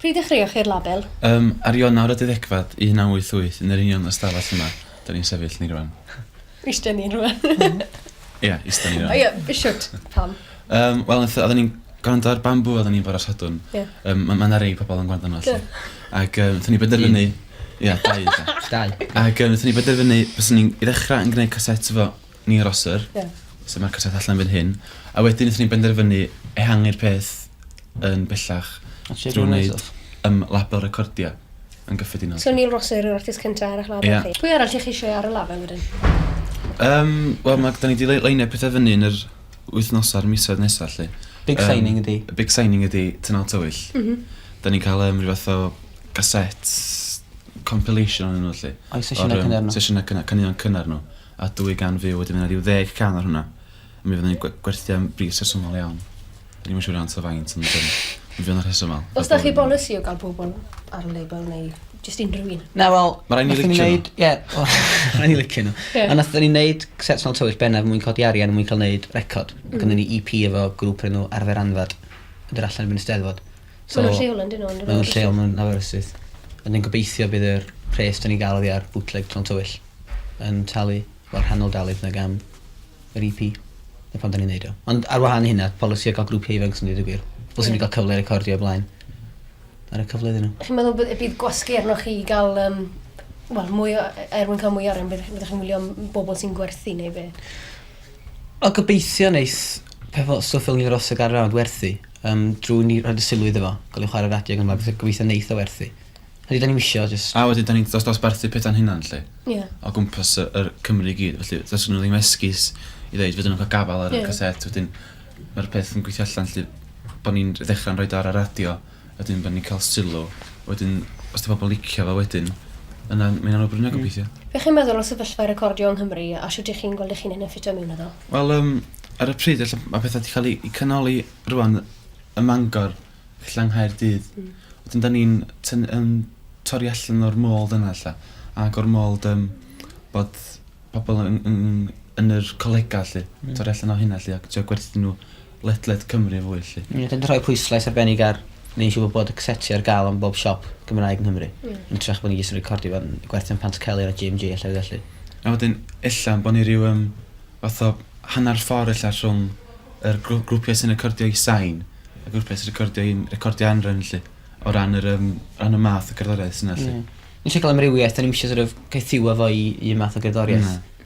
Pryd ddechreuoch chi'r label? Ym ar Ionawr y Deuddegfad 1988 yn yr union ystafell yma 'da ni'n sefyll ni rwan. Iste ni rwan. Ia, iste ni rwan. O ia, be shwt? Pam? Yym wel nath odda ni'n grando ar Bamboo odda ni fore Sadwrn. Ia. Yym ma' ma' 'na rei pobol yn gwrando arno felly. Do. Ag yy nathon ni benderfynu... Un. Ia dau ella. Dau. Ag yy nathon ni benderfynu baswn ni'n i ddechra yn gneud casets efo ni i Rosser. Ie. Lle ma'r cartref allan fan hyn. A wedyn nethon ni benderfynu ehangu'r peth yn bellach drw neud yym label recordio yn gyffredinol. So Neil Rosser yw'r artist cynta ar eich label chi? Ie. Pwy arall dych chi eisiau ar y label wedyn? Yym wel ma' da ni 'di lei- leinio petha fyny yn yr wythnosa a'r misoedd nesa 'lly. Big signing ydi. Yym y big signing ydi Tynal Tywyll. M-hm. 'Dan ni'n ca'l yym ryw fath o gaset compilation onyn nw 'lly. Ai sesiyne cynnar nw? Sesiyne cynnar caneuon cynnar nw. a 200 view wedyn ma' 'na ryw ddeg can ar hwnna. Mi fyddwn ni'n gwe- gwerthu am bris rhesymol iawn. 'Da ni'm yn siŵr iawn ta faint ond yym mi fydd o'n rhesymol. O's 'da chi bolisi o ga'l pobol ar y label neu jyst unrhyw un? Na wel... Ma' rai' ni licio n'w. ...nathon ni neud ie wel ma' rai' ni licio n'w. Ie. A nathon ni neud set mewn tywyll bennaf er mwyn codi arian er mwyn ca'l neud record. Hmm. Gynnon ni Ee Pee efo grŵp o'r enw Arfer Anfed. Mynd â'r allan erbyn y Steddfod. So, maen nhw'n lleol yn dyn nhw? Maen nhw'n lleol, maen nhw'n Aberystwyth. Ond yn gobeithio bydd yr pres da ni'n gael oddi ar bootleg Tron Tywyll yn talu, wel rhannol dalu nag am yr EP. Na pan da ni'n neud o. Ond ar wahan i hynna, polisi o gael grŵp ifanc sy'n dweud y gwir. Os yeah. ni'n cael cyfle recordio o blaen. Ar y cyfle iddyn nhw. Chi'n meddwl bydd, bydd gwasgu arno chi i gael um, well, mwy o, er mwyn cael mwy o arian, bydd chi'n wylio am bobl sy'n gwerthu neu be? O gobeithio wneith pethau stwff fel ni'n rhosog ar rawd werthu. Yym drwy ni roid y sylw iddo fo ga'l ei chware radio ag yn y blaen gobeithio neith o werthu. Hynny ydan ni'm isio jyst... A wedyn 'dan ni'n dos- dosbarthu peta'n hunan 'lly. Ie. O gwmpas y yr Cymru i gyd felly does gynno ddim esgus i ddeud fydden nhw'n ca'l gafal ar y... Ie. ...casét wedyn ma'r peth yn gweithio allan 'lly bo' ni'n r- ddechra'n roid o ar y radio a wedyn bo' ni'n ca'l sylw wedyn os 'di pobol licio fo wedyn yna ma' ynna'n awgrymu gobeithio. Be' chi'n meddwl o sefyllfa recordio yng Nghymru a shwt y'ch chi'n gweld y'ch hunan yn ffitio mewn iddo? Wel yym ar y pryd elle ma' petha 'di ca'l 'u 'u canoli rŵan ym Mangor ella yng Nghaerdydd. Hmm. Wedyn 'dan ni'n tyn- yn torri allan o'r mold yna ella ag o'r mold yym bod pobol yn yn yn yr colega 'lly. Hmm. Torri allan o hynna 'lly a trio gwerthu n'w ledled Cymru fwy 'lly. Ie, dw i'n rhoi pwyslais arbennig ar neud yn siŵr bod y caseti ar gael ym mhob siop Gymraeg yng Nghymru. Ie. Yn ytrach bod ni jyst yn recordio fo yn gwerthu yn Pantycelyn a GMG a llefydd felly. A wedyn ella bo' ni ryw yym fath o hanner ffor ella rhwng yr grw- grwpia' sy'n recordio i sain a grwpia' sy'n recordio i'n recordio anrefn 'lly o ran yr yym ran y math o gerddoriaeth sy 'na 'lly. Ie. Ni isie ca'l amrywiaeth 'dan ni'm isie sor' of caethiwa fo i un math o gerddoriaeth. Na.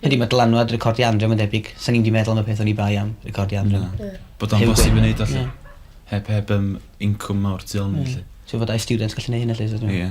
Ydy ma' dylanwad recordio Andrew ma'n debyg. Swn i'm di meddwl am y peth oni bai am recordio Andrew. Na. Bod o'n bosib i neud o 'lly. Heb heb yym incwm mawr tu ol iddi 'lly. Siŵr fod dau stiwdent gallu neu' hynna 'lly so t'mo'. Ie.